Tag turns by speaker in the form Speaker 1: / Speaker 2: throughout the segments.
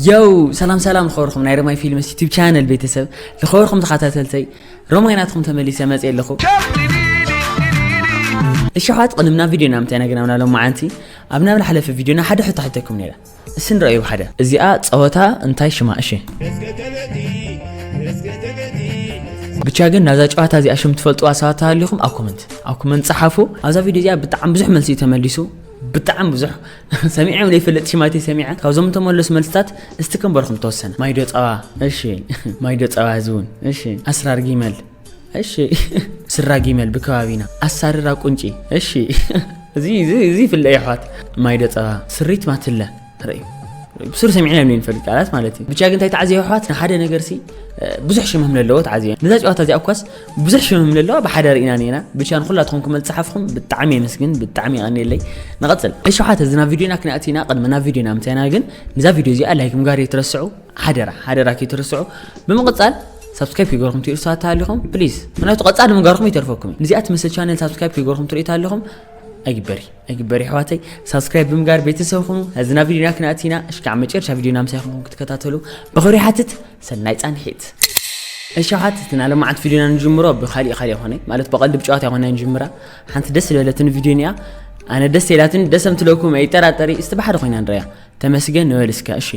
Speaker 1: ዮው ሰላም ሰላም ዝኸበርኩም ናይ ረማይ ፊልምስ ዩቲብ ቻነል ቤተሰብ ዝኸበርኩም ተኸታተልተይ ረማይ ናትኩም ተመሊሰ መፅ ኣለኹ እሸሓት ቅድም ናብ ቪድዮና ምታይ ነገርና ሎም መዓንቲ ኣብ ናብ ዝሓለፈ ቪድዮና ሓደ ሕቶ ሓተኩም ነይረ እሲ ንረኣዩ ሓደ እዚኣ ፀወታ እንታይ ሽማ እሺ ብቻ ግን ናዛ ጨዋታ እዚኣ ሽም ትፈልጥዋ ሰባት ተሃሊኹም ኣብ ኮመንት ኣብ ኮመንት ፀሓፉ ኣብዛ ቪድዮ እዚኣ ብጣዕሚ ብዙሕ መልሲ እዩ ተመሊሱ ብጣዕሚ ብዙሕ ሰሚዐ ውን ዘይፈልጥ ሽም ኣይተ ሰሚዐ ካብዞም እተመለሱ መልስታት እስቲ ክንበርኩም ተወሰነ ማይዶ ጸባ እሺ ማይዶ ጸባ እዚ እውን እሺ ኣስራር ጊመል እሺ ስራ ጊመል ብከባቢና ኣሳርራ ቁንጪ እሺ እዚ እዚ እዚ ይፍለ ይሕዋት ማይዶ ጸባ ስሪት ማትለ ርእዩ ብሱር ሰሚዕና ዮም ንፈልጥ ቃላት ማለት እዩ ብቻ ግን እንታይ ተዓዝዮ ይሕዋት ንሓደ ነገር ሲ ብዙሕ ሽም ኣለዎ ተዓዝዮ ነዛ ጨዋታ እዚኣ እኳስ ብዙሕ ሽምም ለለዋ ብሓደ ርኢና ኔና ብቻ ንኩላትኩም ክመል ጸሓፍኹም ብጣዕሚ የመስግን ብጣዕሚ የቀንየለይ ንቐጽል ዕሸውሓት እዚ ናብ ቪድዮና ክንኣቲና ቅድሚ ናብ ቪድዮና ምታይና ግን ንዛ ቪድዮ እዚኣ ላይክ ምግባር የትረስዑ ሓደራ ሓደራ ከይትረስዑ ብምቕጻል ሳብስክራይብ ክገርኩም ትሪኡ ሰባት ኣለኹም ፕሊዝ ምክንያቱ ቀፃሊ ምግባርኩም ይተርፈኩም እዚኣ ትመስል ቻነል ሳብስክራይብ ክገርኩም ትሪኢት ኣለኹም ኣይግበሪ ኣይግበሪ ኣሕዋተይ ሳብስክራይብ ብምጋር ቤተሰብ ኹኑ ህዝና ቪድዮና ክንኣቲና እሽካዕ መጨረሻ ቪድዮና ምሳይኹም ክትከታተሉ ብኽብሪ ሓትት ሰናይ ጻንሒት። እሸሓት እቲ ናይ ለማዓንቲ ቪድዮ ኢና ንጅምሮ ብካሊእ ካሊእ ኮነ ማለት ብቀልዲ ብጨዋታ ኣይኮናይ ንጅምራ ሓንቲ ደስ ዝበለትን ቪድዮ ኒኣ ኣነ ደስ ኢላትን ደስ ኣምትለኩም ኣይጠራጠሪ እስቲ ብሓደ ኮይና ንረያ ተመስገን ንበል እስከ እሺ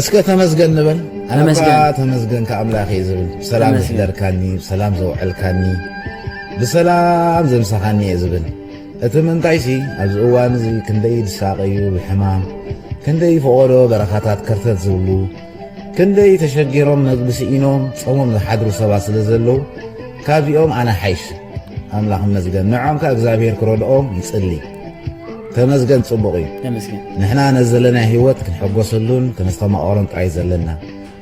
Speaker 2: እስከ ተመስገን ንበል ኣነባ ተመስገን ከኣምላኽ እየ ዝብል ብሰላም ዝሕደርካኒ ብሰላም ዘውዕልካኒ ብሰላም ዘምሳኻኒ እየ ዝብል እቲ ምንታይሲ ኣብዚ እዋን እዚ ክንደይ ዝሳቐዩ ብሕማም፣ ክንደይ ፈቖዶ በረኻታት ከርተት ዝብሉ፣ ክንደይ ተሸጊሮም መግቢ ስኢኖም ጸሞም ዝሓድሩ ሰባት ስለ ዘለዉ ካብዚኦም ኣነ ሓይሽ። ኣምላኽ ይመስገን ንዖም ከኣ እግዚኣብሄር ክረድኦም ይጽሊ። ተመስገን ጽቡቕ እዩ። ተመስገን ንሕና ነዚ ዘለና ህይወት ክንሕጎሰሉን ከነስተማቕሮን ጥራይ ዘለና።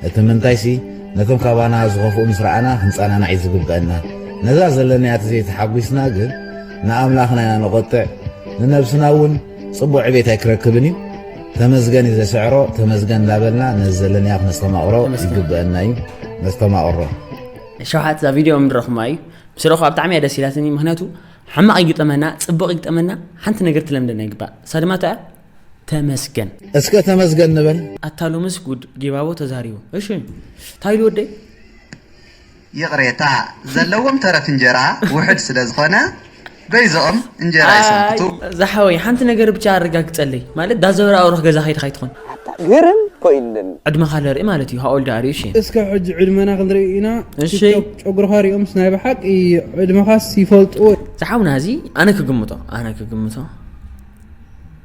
Speaker 2: እቲ ምንታይሲ ነቶም ካባና ዝኸፍኡ ምስ ረኣና ክንጸናናዕ እዩ ዝግበአና። ነዛ ዘለናያ ተዘይተሓጒስና ግን ንኣምላኽና ኢና ነቖጥዕ፣ ንነብስና እውን ጽቡቕ ዕቤት ኣይክረክብን እዩ። ተመስገን እዩ ዘስዕሮ፣ ተመስገን እንዳበልና ነዚ ዘለናዮ ክነስተማቕሮ ይግበአና እዩ። ነስተማቕሮ። ሸውሓት
Speaker 1: እዛ ቪድዮ ምድረኹማ እዩ ምስ ረኹ ኣብ ጣዕሚ እያ ደስ ኢላትኒ ምክንያቱ ሕማቕ ይግጠመና ፅቡቕ ይግጠመና ሓንቲ ነገር ትለምደና ይግባእ እሳ ድማ እታ ተመስገን እስከ ተመስገን
Speaker 2: ንበል ኣታ ሎምስ ጉድ
Speaker 1: ጊባቦ ተዛሪቡ እሺ ታይሉ ወደይ ይቕሬታ
Speaker 3: ዘለዎም ተረፍ እንጀራ ውሕድ ስለ ዝኾነ በይዘኦም እንጀራ ይሰንክቱ። ኣይ ዝሓወይ ሓንቲ
Speaker 1: ነገር ብቻ ኣረጋግጸለይ ማለት ዳዘወር ኣውርኽ ገዛ ከይድካ ኣይትኾን ኣታ ግርም
Speaker 4: ኮይንኒ። ዕድመኻ ልርኢ ማለት
Speaker 1: እዩ how old are you እሺ። እስከ ሕጂ ዕድመና
Speaker 5: ክንርኢ ኢና እሺ። ቲክቶክ ጨጉርካ ሪኦምስ ናይ ብሓቂ ዕድመካስ ይፈልጥዎ ዝሓውና እዚ
Speaker 1: ኣነ ክግምቶ ኣነ ክግምቶ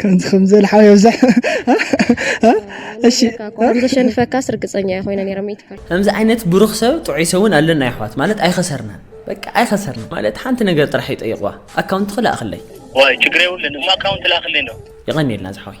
Speaker 5: ከምዚ ከምዚ ዝበለ ሓው የብዛሕ እሺ
Speaker 6: ከም ዘሸንፈካስ ርግፀኛ እየ ኮይነ ነይረ ሚእቲ ፐርሰንት ከምዚ ዓይነት ብሩኽ
Speaker 1: ሰብ ጥዑይ ሰብ እውን ኣለና ይሕዋት ማለት ኣይኸሰርናን በቃ ኣይኸሰርናን ማለት ሓንቲ ነገር ጥራሕ ይጠይቕዋ ኣካውንትኺ ላእኽለይ ዋይ ችግር የብሉን
Speaker 4: እሞ ኣካውንት ላእኽለይ እንዶ የቐንየልና ዝሓወይ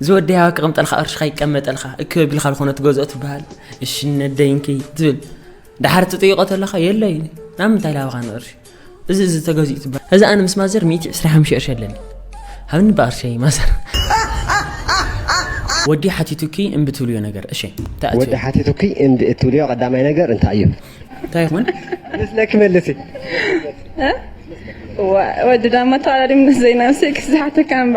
Speaker 1: እዚ ወዲ ያባ ክቕምጠልካ ቅርሽኻ ይቀመጠልካ እክ ቢልካ ዝኾነ ትገዝኦ ትበሃል እሺ ነደይ እንኪ ትብል ድሓር ትጥይቆ ተለኻ የለይ ናብ ምንታይ ላብኻ ንቕርሺ እዚ እዚ ተገዚኡ ትበሃል እዚ ኣነ ምስ ማዘር 125 ቅርሺ ኣለኒ ሃብኒ ብቕርሸይ ማዘር ወዲ ሓቲቱኪ እምቢ ትብልዮ ነገር እሺ እንታይ ወዲ ኣትዩ ሓቲቱኪ እምቢ
Speaker 7: እትብልዮ ቀዳማይ ነገር እንታይ እዩ እንታይ ይኾን
Speaker 1: ምስለኪ
Speaker 7: መልሲ
Speaker 8: ወዲ ዳማ ተዋላዲ ምስ ዘይናብሰይ ክዝሓተካ እምባ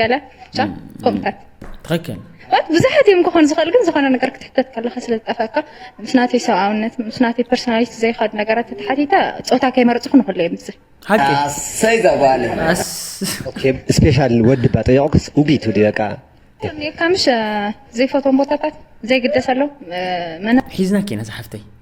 Speaker 8: ገለ ብቻ ከምኡታት ትክክል
Speaker 1: ማለት ብዙሓት እዮም
Speaker 8: ክኾኑ ዝኽእል ግን ዝኾነ ነገር ክትሕተት ከለካ ስለ ዝጠፍአካ ምስ ናተይ ሰብኣውነት ምስ ናተይ ፐርሶናሊቲ ዘይኸዱ ነገራት ተተሓቲተ ፆታ ከይመረፅኹ ንክሉ እዮም ዝብል ሓቂ ኣሰይ
Speaker 1: ዘጓለ
Speaker 7: ስፔሻል ወዲ ባ ጠየቑክስ እምቢ ትብሊ በቃ ከምኒካ ምሽ
Speaker 8: ዘይፈትዎም ቦታታት ዘይግደሰሎም መና ሒዝና ኬና ዝሓፍተይ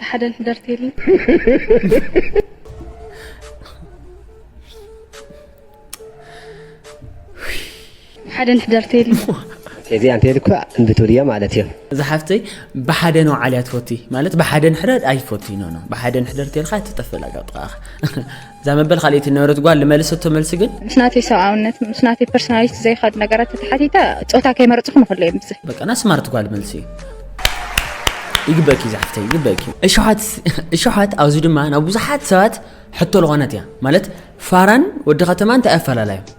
Speaker 8: ብሓደ ንሕደርተይሊ ብሓደ ንሕደርተይሊ
Speaker 7: እዚ ኣንተ ልኩ እንድትብልዮ ማለት እዮም እዛ ሓፍተይ
Speaker 1: ብሓደ ነው ዓልያ ትፈቲ ማለት ብሓደ ንሕደር ኣይፈቲ ኖ ኖ ብሓደ ንሕደር ተልካ ትጠፍእ ላጋ ጥቃኻ እዛ መበል ካልኣይቲ ነበረት ጓል ልመለሰቶ መልሲ ግን ምስ ናተይ ሰብኣውነት
Speaker 8: ምስ ናተይ ፐርሶናሊቲ ዘይኸድ ነገራት ተተሓቲተ ፆታ ከይመረፅኩ ንክሎ እየ ምስ በቃ ና ስማርት ጓል መልሲ
Speaker 1: ይግበእኪ ዛሕፍተይ ይግበእኪ እሸሓት ኣብዚ ድማ ናብ ብዙሓት ሰባት ሕቶ ዝኾነት እያ ማለት ፋራን ወዲ ከተማ እንታይ ኣፈላላዮም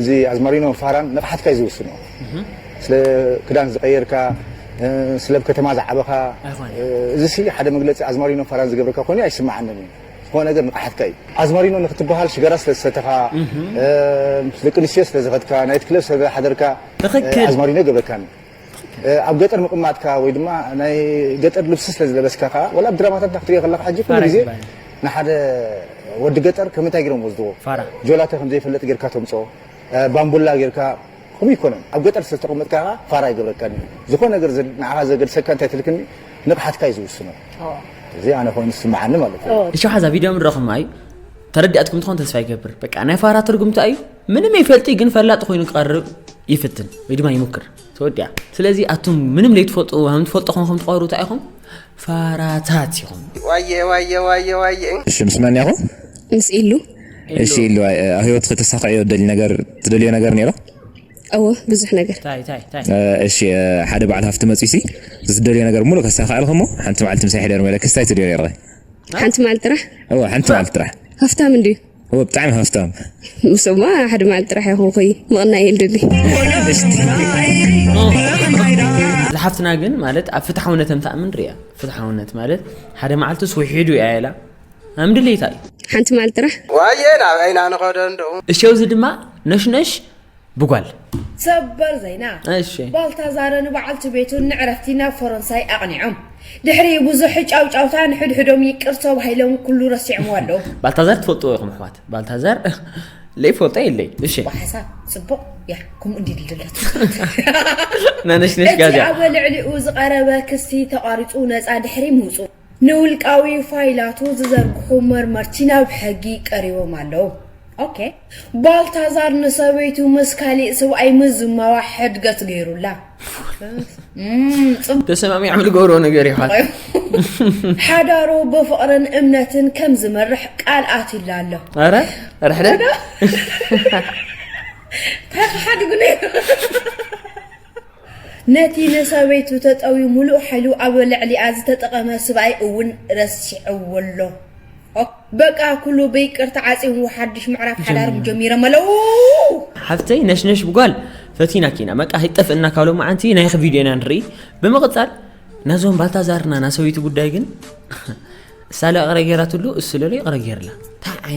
Speaker 9: እዚ ኣዝማሪኖ ፋራን ንቕሓትካ እዩ ዝውስኖ። ስለ ክዳን ዝቐየርካ፣ ስለብ ከተማ ዝዓበኻ፣ እዚሲ ሓደ መግለጺ ኣዝማሪኖ ፋራን ዝገብረካ ኮይኑ ኣይስምዓንን እዩ። ዝኾነ ነገር ንቕሓትካ እዩ። ኣዝማሪኖ ንኽትበሃል ሽጋራ ስለ ዝሰተኻ፣ ምስ ደቂ ኣንስትዮ ስለ ዝኸድካ፣ ናይት ክለብ ስለ ዝሓደርካ ኣዝማሪኖ ኣይገብረካን። ኣብ ገጠር ምቅማጥካ ወይ ድማ ናይ ገጠር ልብሲ ስለ ዝለበስካ ከኣ ወላ ኣብ ድራማታትና ክትሪኦ ከለካ ሕጂ ኩሉ ግዜ ንሓደ ወዲ ገጠር ከም እንታይ ጌሮም ወስድዎ ጆላተ ከም ዘይፈልጥ ጌርካ ተምጽኦ ባምቡላ ጌርካ ከምኡ ይኮነን ኣብ ገጠር ስለ ዝተቀመጥካ ከኣ ፋራ ይገብረካን እዩ ዝኮነ ነገር ንዓኻ ዘገድሰካ እንታይ ትልክኒ ንቕሓትካ እዩ ዝውስኖ እዚ ኣነ ኮይኑ ዝስምዓኒ ማለት እዩ ንሸውሓዛ ቪድዮ ምድረኹም
Speaker 1: ኣዩ ተረዲኣትኩም ትኾን ተስፋ ይገብር በቃ ናይ ፋራ ትርጉም እንታይ እዩ ምንም ይፈልጢ ግን ፈላጥ ኮይኑ ክቐርብ ይፍትን ወይ ድማ ይሙክር ተወዲያ ስለዚ ኣቱም ምንም ለይትፈልጡ ከም ትፈልጡ ኮንኩም ትቐሩ እንታይ ኢኹም ፋራታት ኢኹም ዋየ ዋየ ዋየ
Speaker 10: ዋየ እሺ ምስ መን ያኹ ምስ ኢሉ
Speaker 6: እሺ ኢሉ
Speaker 10: ኣብ ህይወት ከተሳክዕዮ ደሊ ነገር ትደልዮ ነገር ነይሮ እወ
Speaker 6: ብዙሕ ነገር ታይ ታይ ታይ
Speaker 1: እሺ
Speaker 10: ሓደ በዓል ሃፍቲ መፅሲ ዝደልዮ ነገር ሙሉእ ከሳክዐልክ እሞ ሓንቲ መዓልቲ ምሳይ ሕደር መለክስ ታይ ትደልዮ ነይርኸ ሓንቲ መዓልቲ
Speaker 6: ጥራሕ እወ ሓንቲ መዓልቲ
Speaker 10: ጥራሕ ሃፍታም እንድዩ
Speaker 6: እወ ብጣዕሚ ሃፍታም
Speaker 10: ምስማ ሓደ
Speaker 6: መዓልቲ ጥራሕ ይኹን ኮይ ምቕናይ እየ ልደሊ
Speaker 1: ዝሓፍትና ግን ማለት ኣብ ፍትሓውነት እንተኣምን ርያ ፍትሓውነት ማለት ሓደ መዓልቲ ስውሒዱ እያ ኢላ ኣም ድሌታ እዩ ሓንቲ መዓልቲ ጥራሕ
Speaker 6: ዋየ
Speaker 1: ናብ ዓይና
Speaker 7: ንኸደ
Speaker 6: እንዶ
Speaker 1: እሸው
Speaker 7: እዚ ድማ
Speaker 1: ነሽነሽ ብጓል።
Speaker 11: ሰበር ዜና! እሺ። ባልታዛርን
Speaker 1: በዓልቲ
Speaker 11: ቤቱን ንዕረፍቲ ናብ ፈረንሳይ ኣቕኒዖም። ድሕሪ ብዙሕ ጫውጫውታ ንሕድሕዶም ይቅር ተባሂሎም ኩሉ ረሲዖምዎ ኣለዉ። ባልታዛር ትፈልጥዎ ኢኹም
Speaker 1: ኣሕዋት ባልታዛር ለይፈልጦ የለይ እሺ። ብሓሳብ ጽቡቕ
Speaker 11: እያ ከምኡ እንድዩ ድልደለቱ።
Speaker 1: ነነሽነሽ እቲ ጋዝያ። ኣብ ልዕሊኡ
Speaker 11: ዝቐረበ ክሲ ተቛሪጹ ነጻ ድሕሪ ምውጽኡ። ንውልቃዊ ፋይላቱ ዝዘርግሑ መርመርቲ ናብ ሕጊ ቀሪቦም ኣለዉ። ኦኬ ባልታዛር ንሰበይቱ ምስ ካሊእ ስብኣይ ምዝማዋ ሕድገት ገይሩላ።
Speaker 1: ተሰማሚዖም ዝገብርዎ ነገር እዩ ሓወይ።
Speaker 11: ሓዳሩ ብፍቕርን እምነትን ከም ዝመርሕ ቃል ኣትዩላ ኣሎ። ኣረ
Speaker 1: ርሕደት እንታይ
Speaker 11: ክሓድጉ ነይሩ ነቲ ንሰበይቱ ተጠውዩ ምሉእ ሓይሉ ኣብ ልዕሊኣ ዝተጠቐመ ስብኣይ እውን ረሲዕዎ ኣሎ። በቃ ኩሉ ብይቅርታ ዓጽዩዎ ሓድሽ ምዕራፍ ሓዳሮም ጀሚሮም ኣለዉ። ሓፍተይ
Speaker 1: ነሽነሽ ብጓል ፈቲናኪ ኢና በቃ ኣይጠፍእና ካብ ሎማዓንቲ ናይኺ ቪድዮ ኢና ንርኢ ብምቕጻል ናዞም ባልታዛርና ናሰበይቱ ጉዳይ ግን እሳ ለይቕረ ጌራትሉ እሱ ለሎ ይቕረ ጌርላ ታይ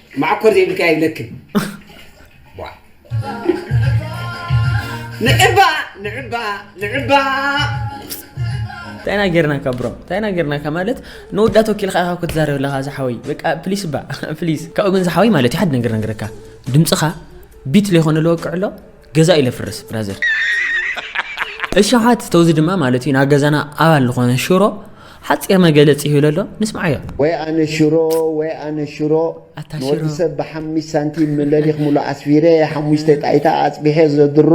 Speaker 12: መዓኮር ዘይብልካ የብለክን ንዕባ ንዕባ
Speaker 1: ንዕባ እንታይ ኢና ጌርናካ ብሮ እንታይ ኢና ጌርናካ ማለት ንወዳ ተወኪልካ ኢኻ ክትዛረብ ኣለኻ ዝሓወይ በቃ ፕሊስ ባ ፕሊስ ካብኡ ግን ዝሓወይ ማለት እዩ ሓደ ነገር ነገረካ ድምፅኻ ቢት ለይኮነ ለወቅዕ ኣሎ ገዛ እዩ ለፍርስ ብራዘር እሻሓት ተውዚ ድማ ማለት እዩ ናብ ገዛና ኣባል ዝኾነ ሽሮ ሓፂር መገለፂ ይህሉ ኣሎ ንስምዓዮ ወይ ኣነ ሽሮ
Speaker 13: ወይ ኣነ ሽሮ ኣታ ሽሮ። ንወዲ ሰብ ብሓሚስ ሳንቲም ለሊኽ ሙሉ ኣስፊረ ሓሙሽተ ጣይታ ኣፅቢሐ ዘድሮ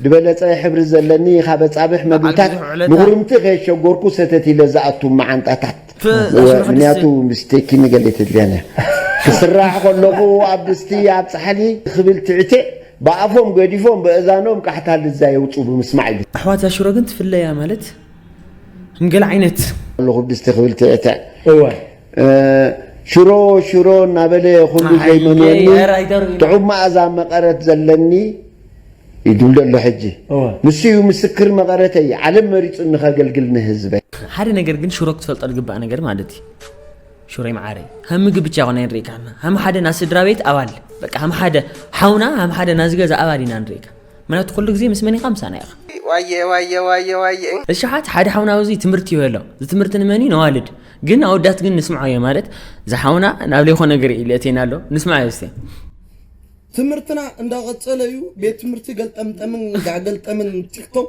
Speaker 13: ዝበለፀ ሕብሪ ዘለኒ ካብ ኣፃብሕ መግብታት ብዙሕ ዕለታት። ንኹርምቲ ከየሸጎርኩ ሰተት ኢለ ዝኣቱ መዓንጣታት እወ ምንያቱ ምስቴኪ ንገሌ ተድልያን እያ ክስራሕ ከለኩ ኣብ ድስቲ ኣብ ፃሕሊ ክብል ትዕቴእ ብኣፎም ገዲፎም በእዛኖም ቃሕታ ልዛ የውፁ ብምስማዕ እዩ ኣሕዋት ዛሽሮ ግን
Speaker 1: ትፍለያ ማለት እም ገለ ዓይነት። ኣለኩ ብድስቲ ክብል
Speaker 13: ትዕቴእ ሽሮ ሽሮ እናበለ ኩሉ ዘይመንየኒ ጥዑም ማኣዛ መቀረት ዘለኒ ይድልደሎ ሕጂ ንሱ እዩ ምስክር መቐረተይ ዓለም መሪፁኒ ከገልግል ንህዝበይ ሓደ ነገር ግን
Speaker 1: ሽሮ ክትፈልጦ ዝግባእ ነገር ማለት እዩ ሽሮይ መዓረይ ሃም ምግብ ብቻ ኮና ንሪኢካ ሃም ሓደ ናብ ስድራ ቤት ኣባል በቃ ሃም ሓደ ሓውና ሃም ሓደ ናብ ዝገዛ ኣባል ኢና ንሪኢካ ምክንያቱ ኩሉ ግዜ ምስ መን ኢኻ ምሳና ኢኻ ዋየ ዋየ ዋየ
Speaker 12: ዋየ እሽሓት ሓደ
Speaker 1: ሓውና ኣብዚ ትምህርቲ ይበ ኣሎ እዚ ትምህርቲ ንመን እዩ ነዋልድ ግን ኣወዳት ግን ንስምዖ እየ ማለት ዝሓውና ናብ ለይኮ ነገር እዩ ልእቴና ኣሎ ንስምዖ እየ
Speaker 14: ትምህርትና እንዳቀጸለ እዩ ቤት ትምህርቲ ገልጠምጠምን ጋገልጠምን ቲክቶክ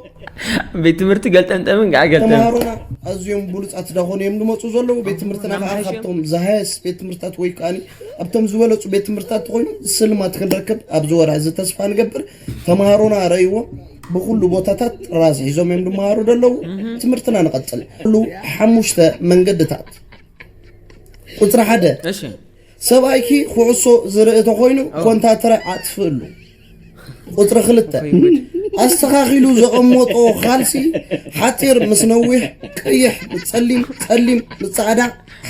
Speaker 14: ቤት ትምህርቲ
Speaker 1: ገልጠምጠምን ጋገልጠም ተማሃሮና ኣዝዮም
Speaker 14: ብሉጻት ዳኾኑ እዮም ዝመፁ ዘለዉ ቤት ትምህርትና ከዓ ካብቶም ዝሃየስ ቤት ትምህርትታት ወይ ከዓኒ ኣብቶም ዝበለፁ ቤት ትምህርትታት ተኮይኑ ስልማት ክንረክብ ኣብዚ ወርሒ እዚ ተስፋ ንገብር ተማሃሮና ረይዎም ብኩሉ ቦታታት ጥራዝ ሒዞም እዮም ዝመሃሩ ዘለዉ ትምህርትና ንቐፅል ኩሉ ሓሙሽተ መንገድታት ቁፅሪ ሓደ ሰብኣይኪ ኩዕሶ ዝርኢ ተኾይኑ ኮንታትረ ኣጥፍእሉ። ቁፅሪ ክልተ ኣስተኻኺሉ ዘቐመጦ ኻልሲ ሓፂር ምስ ነዊሕ ቀይሕ ምስ ፀሊም ፀሊም ምስ ፃዕዳ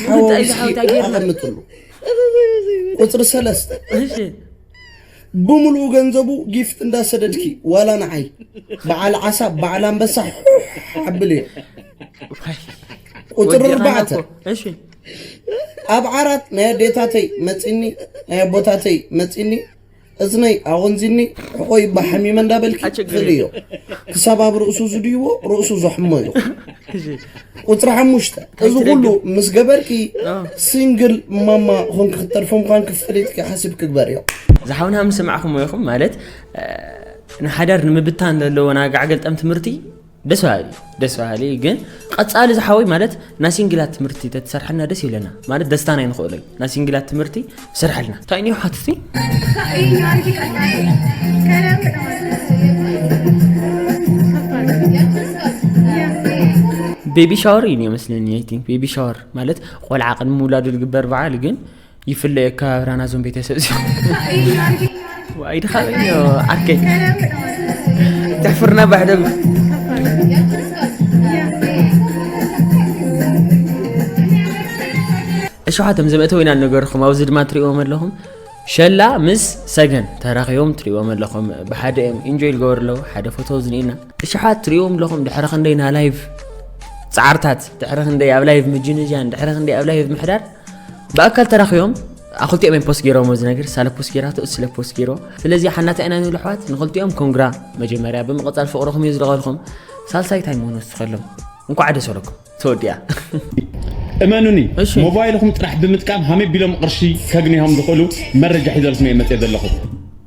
Speaker 14: ሓዋዊስኪ ኣቐምጥሉ። ቁፅሪ ሰለስተ ብምሉኡ ገንዘቡ ጊፍት እንዳሰደድኪ ዋላ ንዓይ በዓል ዓሳ በዓል ኣንበሳ ሓብል እየ ቁፅሪ ኣርባዕተ ኣብ ዓራት ናይ ኣዴታተይ መፂኒ ናይ ኣቦታተይ መፂኒ እዝነይ ኣቆንዚኒ ሕቆይ እባ ሓሚመ እንዳበልኪ ትኽእሊ እዮ ክሳብ ኣብ ርእሱ ዝድይዎ ርእሱ ዘሕሞ እዩ ቁፅሪ ሓሙሽተ እዚ ኩሉ ምስ ገበርኪ ሲንግል ማማ ኾንኪ ክትተርፊ ምዃን ክፈሊጥኪ ሓሲብ ክግበር እዮ ዝሓውና ምስ
Speaker 1: ሰማዕኹም ኢኹም ማለት ንሓዳር ንምብታን ዘለዎ ናጋዕገልጠም ትምህርቲ ደስ በሃሊ እዩ ደስ በሃሊ እዩ ግን ቀጻሊ ዝሓወይ ማለት ናይ ሲንግላት ትምህርቲ ተትሰርሐልና ደስ ይብለና ማለት ደስታና ይንኽእሎ እዩ ናይ ሲንግላት ትምህርቲ ስርሐልና እንታይ እንዮ ሓትቲ ቤቢ ሻወር እዩ መስለኒ ኣይ ቲንክ ቤቢ ሻወር ማለት ቆልዓ ቅድሚ ምውላዱ ዝግበር በዓል ግን ይፍለየ ኣከባብራ ናዞም ቤተሰብ እዚኦም ዋይ ድኻበኛ ዓርከይ ተሕፍርና ባሕደብ እሸሓቶም ዘመእተው ኢና ነገርኹም ኣብዚ ድማ ትሪእዎም ኣለኹም ሸላ ምስ ሰገን ተራኺቦም ትሪእዎም ኣለኹም ብሓደ እዮም ኢንጆይ ዝገበሩ ኣለዉ ሓደ ፎቶ ዝኒኤና እሸሓት ትሪእዎም ኣለኹም ድሕሪ ክንደይ ና ላይቭ ፃዕርታት ድሕሪ ክንደይ ኣብ ላይቭ ምጅንጃን ድሕሪ ክንደይ ኣብ ላይቭ ምሕዳር ብኣካል ተራኺቦም ኣክልቲኦም እዮም ፖስት ገይሮም እዚ ነገር ሳለ ፖስት ገይራቶ እሱ ስለ ፖስት ገይሮ ስለዚ ሓናታ ኢና ንብል ኣሕዋት ንክልቲኦም ኮንግራ መጀመርያ ብምቕፃል ፍቕርኹም እዩ ዝለቐልኩም ሳልሳይ ታይ ምሆኑ ዝስኸሎም እንኳዕ ደስ ኣለኩም ተወዲኣ
Speaker 15: እመኑኒ ሞባይልኹም ጥራሕ ብምጥቃም ሃመይ ቢሎም ቕርሺ ከግኒሆም ዝኽእሉ መረጃ ሒዘልኩም እየ መፅየ ዘለኹ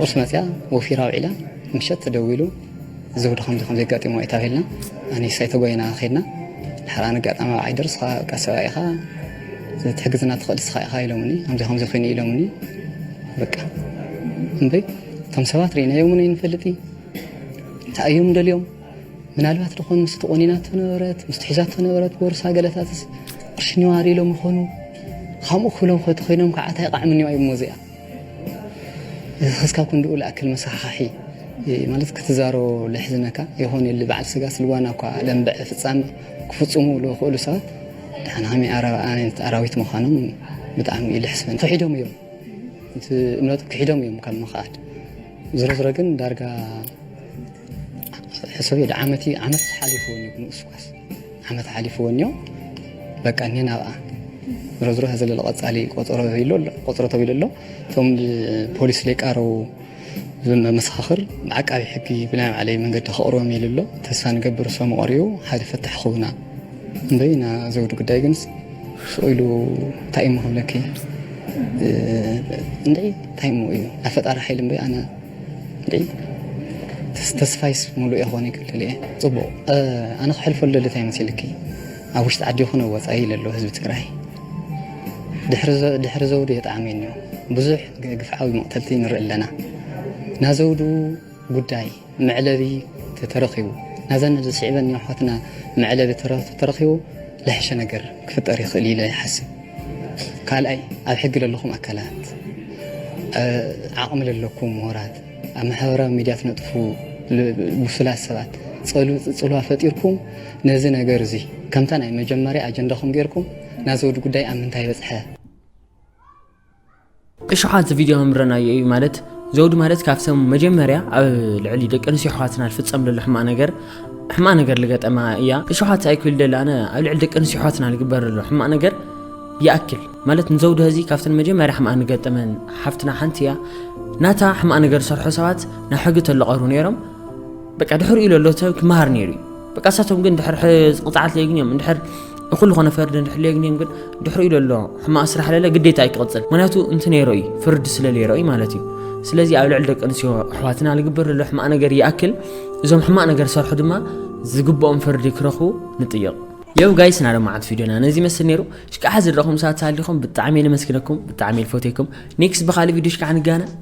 Speaker 16: ቁርስ መጺኣ ወፊራ ኣውዒላ ምሸት ተደዊሉ ዘውዲ ከምዚ ከምዚ ኣጋጢምዋ እዩ ተባሂልና ኣነ ሳይ ተጎይና ከድና ድሓር ኣነ ኣጋጣሚ ኣብ ዓይደር ስኻ በቃ ሰብኣይ ኢኻ ትሕግዝና ትኽእል ስኻ ኢኻ ኢሎምኒ ከምዚ ከምዚ ኮይኑ ኢሎምኒ በቃ እምበይ እቶም ሰባት ርኢናዮም እውን ኣይንፈልጥ እንታይ እዮም ደልዮም ምናልባት ድኾን ምስ ተቆኒናቶ ነበረት ምስ ትሒዛቶ ነበረት ቦርሳ ገለታትስ ቅርሺ ኒዋር ኢሎም ይኾኑ ከምኡ ክብሎም ከቲ ኮይኖም ከዓ እንታይ ቃዕሚ ኒዋ እዩ ሞዚኣ ክስካብ ክንድኡ ልኣክል መሰኻሕኺ ማለት ክትዛሮ ልሕዝነካ የኾን ዩሊ በዓል ስጋ ስልዋና እኳ ለንብዐ ፍጻሜ ክፍጽሙ ልኽእሉ ሰባት ድሓን ሃመይ ኣረኣነት ኣራዊት ምዃኖም ብጣዕሚ እዩ ልሕስበን ክሒዶም እዮም እቲ እምነቱ ክሒዶም እዮም ካብ ምኽኣድ ዝሮ ዝሮ ግን ዳርጋ ሕሰብዮ ድዓመት እዩ ዓመት ሓሊፍዎን እዩ ክንኡስ ኳስ ዓመት ሓሊፍዎን እዩ በቃ እኔን ኣብኣ ዝሮ ዝሮ ዘሎ ቀፃሊ ቆፀሮ ተብሎ ቆፀሮ ተብሎ ኣሎ እቶም ፖሊስ ሌቃረው መሰኻኽር ዓቃቢ ሕጊ ብናይ ባዕለይ መንገዲ ከቕርቦም ኢሉ ኣሎ ተስፋ ንገብር ሰሙ ቀሪቡ ሓደ ፈታሕ ክውና እምበይ ና ዘውዲ ጉዳይ ግን ስኢሉ እንታይ እሞ ክብለኪ እንደ እንታይ እሞ እዩ ኣፈጣሪ ሓይሊ እምበይ ኣነ ተስፋይስ ሙሉእ የኾን እዩ ክልል እየ ፅቡቅ ኣነ ክሕልፎ ልደሊ ታይ መሲልኪ ኣብ ውሽጢ ዓዲ ይኹን ኣብ ወፃኢ ለሎ ህዝቢ ትግራይ ድሕሪ ዘውዱ የጣዕመኒ እዩ ብዙሕ ግፍዓዊ መቕተልቲ ንርኢ ኣለና ናይ ዘውዱ ጉዳይ መዕለቢ ተተረኺቡ ናዘን ዝስዕበን ኣሕዋትና መዕለቢ ተተረኺቡ ዝሐሸ ነገር ክፍጠር ይኽእል ኢለ ይሓስብ። ካልኣይ ኣብ ሕጊ ለለኹም ኣካላት ዓቕሚ ለለኩም ምሁራት ኣብ ማሕበራዊ ሚድያ ትነጥፉ ብሱላት ሰባት ፅልዋ ፈጢርኩም ነዚ ነገር እዚ ከምታ ናይ መጀመርያ ኣጀንዳኹም ጌርኩም ናዘወዲ ጉዳይ ኣብ ምንታይ በፅሐ
Speaker 1: እሽሓት ቪድዮ ምረናዮ እዩ ማለት ዘውዲ ማለት ካብቶም መጀመርያ ኣብ ልዕሊ ደቂ ኣንስትዮ ኣሕዋትና ዝፍፀም ዘሎ ሕማቅ ነገር ሕማቅ ነገር ልገጠማ እያ እሽሓት ኣይክል ደለ ኣነ ኣብ ልዕሊ ደቂ ኣንስትዮ ኣሕዋትና ዝግበር ዘሎ ሕማቅ ነገር ይኣክል ማለት ንዘውዲ ህዚ ካብተን መጀመርያ ሕማቅ ንገጠመን ሓፍትና ሓንቲ እያ ናታ ሕማቅ ነገር ዝሰርሖ ሰባት ናብ ሕጊ ተለቀሩ ነይሮም በቃ ድሕሪኡ ለሎ ሰብ ክመሃር ነይሩ እዩ በቃ እሳቶም ግን ድሕር ቅፅዓት ለየግንዮም እንድሕር እኹል ዝኾነ ፍርዲ እንድሕር ለየግንዮም ግን ድሕሪኡ ለሎ ሕማቕ ስራሕ ለለ ግዴታ እዩ ክቕፅል ምክንያቱ እንቲ ነይሮ እዩ ፍርዲ ስለ ነይሮ እዩ ማለት እዩ ስለዚ ኣብ ልዕሊ ደቂ ኣንስትዮ ኣሕዋትና ዝግበር ዘሎ ሕማቕ ነገር ይኣክል እዞም ሕማቕ ነገር ዝሰርሑ ድማ ዝግብኦም ፍርዲ ክረኽቡ ንጥይቕ የው ጋይስ ናብ መዓት ቪድዮና ነዚ መስል ነይሩ ሽካዓ ዝድረኹም ሰዓት ሳሊኹም ብጣዕሚ የነመስግነኩም ብጣዕሚ የልፎቴኩም ኔክስት ብካልእ ቪድዮ ሽካዓ ንጋና